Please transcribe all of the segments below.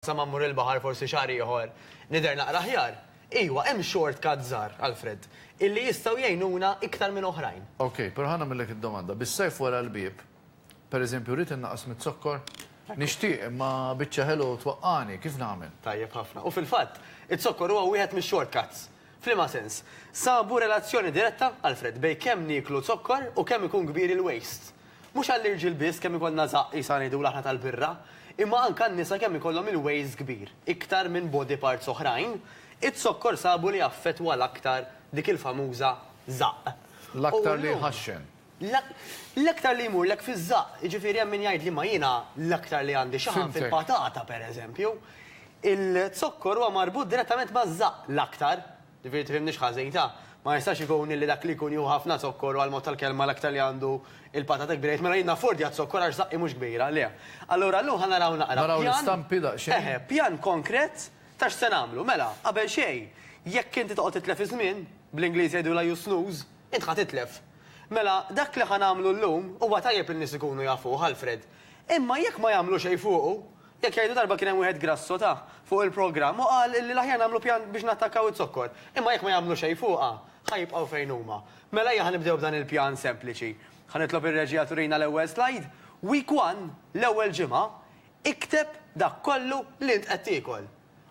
Sa ma mmur il-baħar forsi xahar ieħor nidher naqra aħjar. Iwa, hemm short cuts żgħar, Alfred, illi jistgħu jgħinuna iktar minn oħrajn. Ok, però ħa nagħmillek id-domanda. Bis-sajf wara l-bieb, per eżempju, rrid innaqqas miz-zokkor? Nixtieq, imma biċċa ħelu twaqqagħni, kif nagħmel? Tajjeb ħafna. U fil-fatt, iz-zokkor huwa wieħed mix-short cuts. F'liema sens? Sabu relazzjoni diretta, Alfred, bejn kemm nieklu zokkor u kemm ikun kbir il-waste. Mhux għall-irġiel biss kemm ikollna żaqq qisha ngħidulu aħna tal-birra, imma anke għan-nisa kemm ikollhom il-wejst kbir, iktar minn body parts oħrajn, iz-zokkor sabu li jaffettwa l-aktar dik il-famuża żaqq. L-aktar li jħaxxen. L-aktar li jmurlek fiż-żaqq, jiġifieri hemm min jgħidli ma jiena l-aktar li għandi xaħam fil-patata pereżempju. Il-zokkor huwa marbut direttament maż-żaqq l-aktar. Ġifieri tifhimnix ħażin, ta? Ma jistax ikun illi dak li jkun jieħu ħafna zokkor u għal mod tal-kelma l-aktar li għandu il-pata tikber jgħid mela jien naffordja z-zokkor għax zaqqi mhux kbira, le. Allura llum ħa naraw naqra pjan. Naraw l-istampi daqsxejn. Eħe, pjan konkret ta' x'se nagħmlu. Mela, qabel xejn, jekk inti toqgħod titlef iż-żmien, bl-Ingliż jgħidulha you snooze, int ħa titlef. Mela, dak li ħa nagħmlu llum, huwa tajjeb li n-nies ikunu jafuh, Alfred. Imma jekk ma jagħmlu xejn fuqu, Jekk jgħidu darba kien hemm wieħed grasso ta' fuq il-programm u qal illi l-aħjar nagħmlu pjan biex nattakkaw iz-zokkor. Imma jekk ma jagħmlu xejn fuqha, ħa jibqgħu fejn huma. Mela ejja ħa nibdew b'dan il-pjan sempliċi. Ħa nitlob ir-reġija turina l-ewwel slide. Week one, l-ewwel ġimgħa, ikteb dak kollu li int qed tiekol.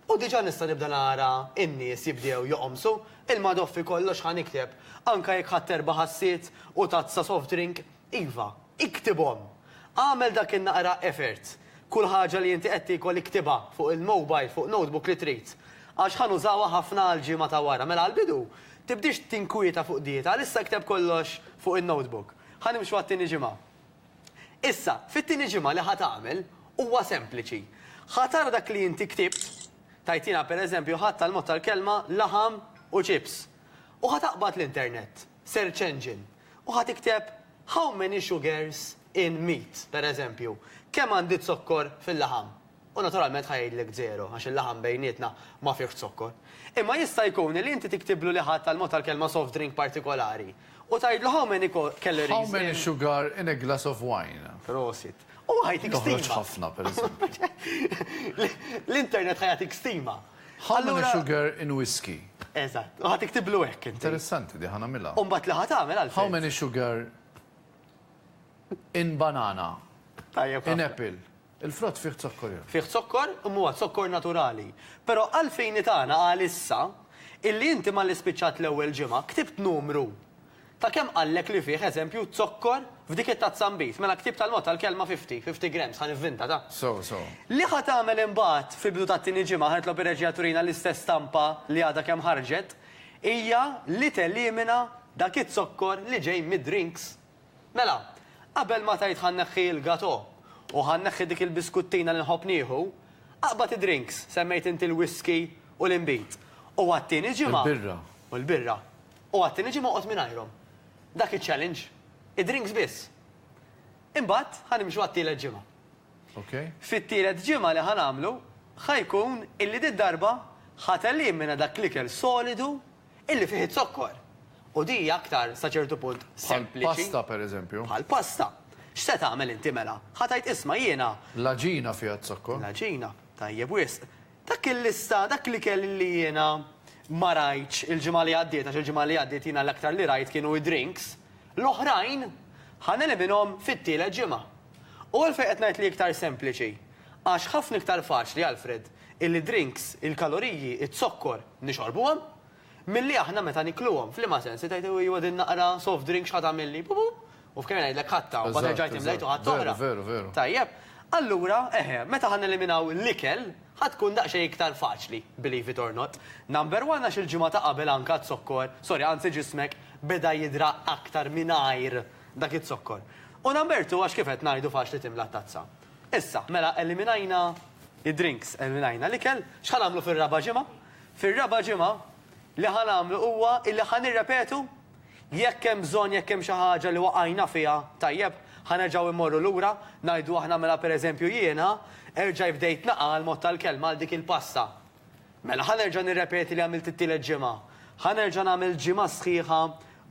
U diġà nista' nibda nara n-nies jibdew joqomsu. Il-madoffi kollox ħa nikteb. Anke jekk ħadt erba' ħassiet u tazza soft drink, Iva, iktibhom! Agħmel dak in-naqra effort. Kull ħaġa li inti qed tiekol iktibha fuq il-mobile, fuq notebook li trid. Għax ħa nużawha ħafna għall-ġimgħa ta' wara. Mela għall-bidu, tibdiex tinkwieta fuq dieta, għalissa kteb kollox fuq in-notebook. Ħa nimxu għat-tieni ġimgħa. Issa, fit-tieni ġimgħa li ħa tagħmel, huwa sempliċi. Ħa tara dak li inti ktibt, tgħid jiena pereżempju ħadt tal-mod tal-kelma laħam u chips. U ħa taqbad l-internet. search engine u ħa tikteb how many sugars in meat, per eżempju, kemm għandi zokkor fil-laħam, u naturalment ħa jgħidlek żero għax il-laħam bejnietna ma fihx zokkor. Imma jista' jkun li inti tiktiblu li ħadt għall-mod tal-kelma soft drink partikolari u tgħidlu how many calories in. How many sugar in a glass of wine. Prosit. Huwa ħa jtik stima. Toħroġ ħafna, per eżempju. L-internet ħa jagħtik stima. How many sugar in whiskey? Eżatt. U ħa tiktiblu hekk inti. Interessanti di, ħa nagħmilha. U mbagħad li ħa tagħmel għal How many sugar in banana? Tajjeb. In apple. Il-frott fih zokkor jew? Fih zokkor, imma huwa zokkor naturali. Però għal fejni tagħna għalissa, illi inti malli spiċċat l-ewwel ġimgħa, ktibt numru. Ta' kemm qallek li fih, eżempju, zokkor f'dik it-tazza nbid? Mela ktieb tal-mod tal-kelma fifty, fifty grams, ħa nivvinta, ta. So, so. Li ħa tagħmel imbagħad fil-bidu tat-tieni ġimgħa, ħa nitlob ir-reġija turina l-istess stampa li għadha kemm ħarġet, hija li telimina dak iz-zokkor li ġej mid-drinks. Mela, qabel ma tgħid ħa nneħħi l-gato, u ħa nneħħi dik il-biskuttina li nħobb nieħu, aqbad id-drinks, semmejt inti l-whiskey u l-inbid, u għat-tieni ġimgħa. Il-birra. U l-birra. U għad-tieni ġimgħa oqgħod mingħajrhom. Dak iċ-challenge. Id-drinks biss. Imbagħad ħa nimxu għat-tielet ġimgħa. Fit-tielet ġimgħa li ħa nagħmlu ħa jkun illi did-darba ħa telimina dak l-ikel solidu illi fih iz-zokkor. U din hija aktar sa ċertu punt sempliċi. Bħall-pasta, pereżempju. Bħall-pasta. X'se tagħmel inti mela? Ħa tgħid isma' jiena. L-għaġina fiha z-zokkor. L-għaġina. Tajjeb wisq. Dak il-lista, dak li kell li jiena ma rajtx il-ġimgħa li għaddiet, għax il-ġimgħa li għaddiet jiena l-aktar li rajt kienu id-drinks, l-oħrajn ħa neliminhom fit-tielet ġimgħa. U għalfejn qed ngħid li iktar sempliċi? Għax ħafna iktar faċli, Alfred, illi drinks, il-kaloriji, iz-zokkor, nixorbuhom, Milli aħna meta nikluhom. F'liema sens? Li tgħid ejwa din naqra soft drink x'ħa tagħmilli? Pu pu! U f'kemm jien ngħidlek ħadtha u mbagħad erġajt imlejt u ħadt oħra. Veru, veru. Tajjeb. Allura, eħe, meta ħa neliminaw l-ikel, ħa tkun daqsxejn iktar faċli, believe it or not. Number one għax il-ġimgħa ta' qabel anke għad-zokkor, sorry, anzi ġismek beda jidra aktar mingħajr dak iz-zokkor. U number two għax kif qed ngħidu faċli timla t-tazza. Issa, mela eliminajna id-drinks, eliminajna l-ikel, x'ħa nagħmlu fir-raba' ġimgħa? Fir-raba' ġimgħa, li ħa nagħmlu huwa illi ħa nirrepetu. Jekk hemm bżonn, jekk hemm xi ħaġa li waqajna fiha, tajjeb, ħa nerġgħu immorru lura, ngħidu aħna mela pereżempju jiena erġaj bdejt naqa' għall-mod tal-kelma għal dik il-pasta. Mela ħa nerġa' nirrepeti li għamilt it-tielet ġimgħa. Ħa nerġa' nagħmel ġimgħa sħiħa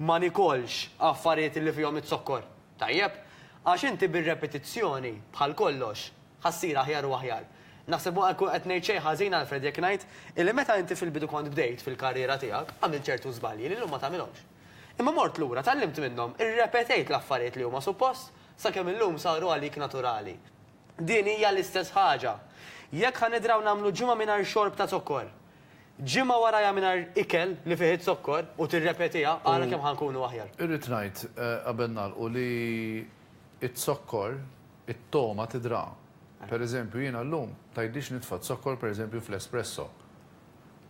ma nikolx affarijiet illi fihom iz-zokkor. Tajjeb? Għax inti bir-repetizzjoni, bħal kollox, Ħa ssir aħjar u aħjar. Naħseb ma nkun qed ngħid xejn ħażin, Alfred, jekk ngħid illi meta inti fil-bidu kont bdejt fil-karriera tiegħek, għamilt ċertu żbalji li llum ma tagħmilhomx. Imma mort lura, tgħallimt minnhom, irrepetejt l-affarijiet li huma suppost, sakemm illum saru għalik naturali. Din hija l-istess ħaġa. Jekk ħa nidraw nagħmlu ġimgħa mingħajr xorb ta' zokkor, ġimgħa warajha mingħajr ikel li fih iz-zokkor u tirrepetiha, ara kemm ħa nkunu aħjar. Irrid ngħid, qabel nagħlqu, li z-zokkor It-togħma tidhra. Per eżempju, jiena llum tgħidlix nitfa' z-zokkor per eżempju fl-espresso.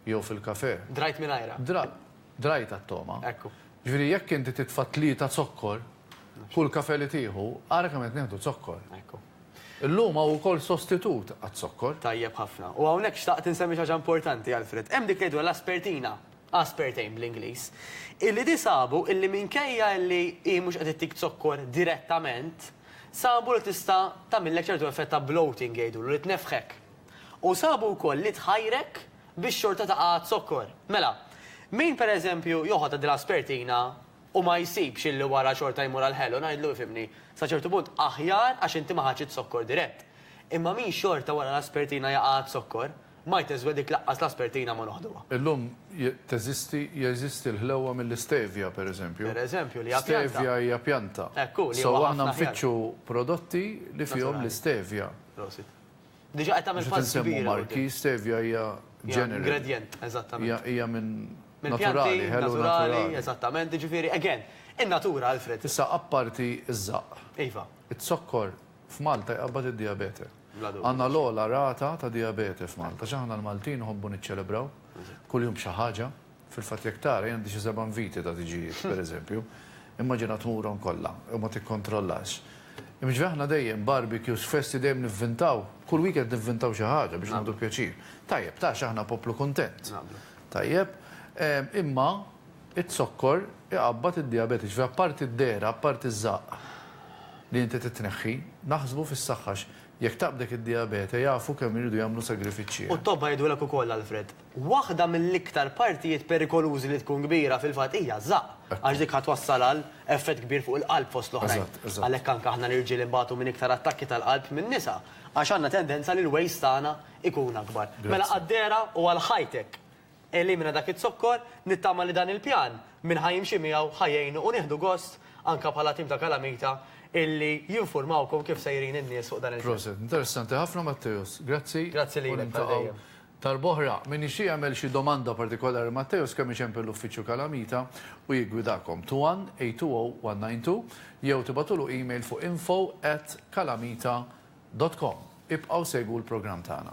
Jew fil-kafè. Drajt mingħajrha. Dra, drajtha t-togħma. Ekku. Ġifieri jekk inti titfa' tlieta zokkor, kull kafè li tieħu, ara kemm qed nieħdu zokkor. Ekku. Illum hawn ukoll sostitut għaz-zokkor. Tajjeb ħafna. U hawnhekk xtaqt insemmi xi ħaġa importanti, Alfred. Hemm dik li ngħidu l-aspertina, aspartame bl-Ingliż, illi di sabu illi minkejja illi hi mhux qed ittik zokkor direttament, Sabu li tista' tagħmillek ċertu effett ta' bloating jgħidulu, li tnefħek. U sabu wkoll li tħajrek biex xorta taqgħad zokkor. Mela, min pereżempju joħodha din l-aspertina u ma jsibx illi wara xorta jmur għall-ħelu, ngħidlu ifhimni, sa ċertu punt aħjar għax inti ma ħadtx iz-zokkor dirett. Imma min xorta wara l-aspertina jaqgħad zokkor, Ma jtezwe dik laqqas l-aspertina ma noħduha. Illum teżisti, jeżisti l-ħlewwa mill-istevia, per eżempju. Per eżempju, li hija pjanta. Stevia hija pjanta. Hekk hu, li huwa ħafna aħjar. So aħna nfittxu prodotti li fihom l-istevia. Prosit. Diġà qed tagħmel pass kbir. Mhux qed insemmu marki, stevia hija ġeneral. Ingredjent, eżattament. Hija minn naturali, ħelu naturali. Eżattament, jiġifieri, again, in-natura, Alfred. Issa, apparti ż-żaqq. Iva. Iz-zokkor f'Malta jqabbad id-dijabete. Għandna l-ogħla rata ta' dijabete f'Malta. X'aħna l-Maltin nħobbu niċċelebraw kuljum b'xi ħaġa. Fil-fatt jekk tara, jien għandi xi seba' inviti ta' tiġijiet, per eżempju. Immaġina tmurhom kollha u ma tikkontrollax. Imġvi aħna dejjem barbecues, festi dejjem nivvintaw, kull weekend nivvintaw xi ħaġa biex nagħmlu pjaċir. Tajjeb, ta' x'aħna poplu kuntent. Tajjeb. Imma. Iz-zokkor iqabbad id-dijabete, ġifieri apparti d-dehra, apparti ż-żaqq li inti trid tneħħi, naħsbu fis-saħħa għax jekk taqbdek id-dijabete jafu kemm iridu jagħmlu sagrifiċċji, eh. U t-tobba jgħidulek ukoll, Alfred, waħda mill-iktar partijiet perikolużi li tkun kbira fil-fatt hija ż-żaqq għax dik ħa twassal għal effett kbir fuq il-qalb fost l-oħrajn. Għalhekk anke aħna l-irġiel inbatu minn iktar attakki tal-qalb min-nisa għax għandna tendenza li l-waist tagħna jkun akbar. Mela għad-dehra u għal ħajtek Elimina dak iz-zokkor, nittama li dan il-pjan min ħa jimxi miegħu ħa jgħinu u nieħdu gost anka bħala tim ta' Kalamita illi jinfurmawkom kif sejrin in-nies fuq dan il-front. Proset. Interessanti ħafna Matteus. Grazzi. Grazzi lilek bħal dejjem. U niltaqgħu darb'oħra. Min ixtieq jagħmel xi domanda partikolari Matteus kemm iċempel l-uffiċċju Kalamita u jiggwidakom. 21-820-192 jew tibgħatulu email fuq info@kalamita.com. Ibqgħu segwu l-programm tagħna.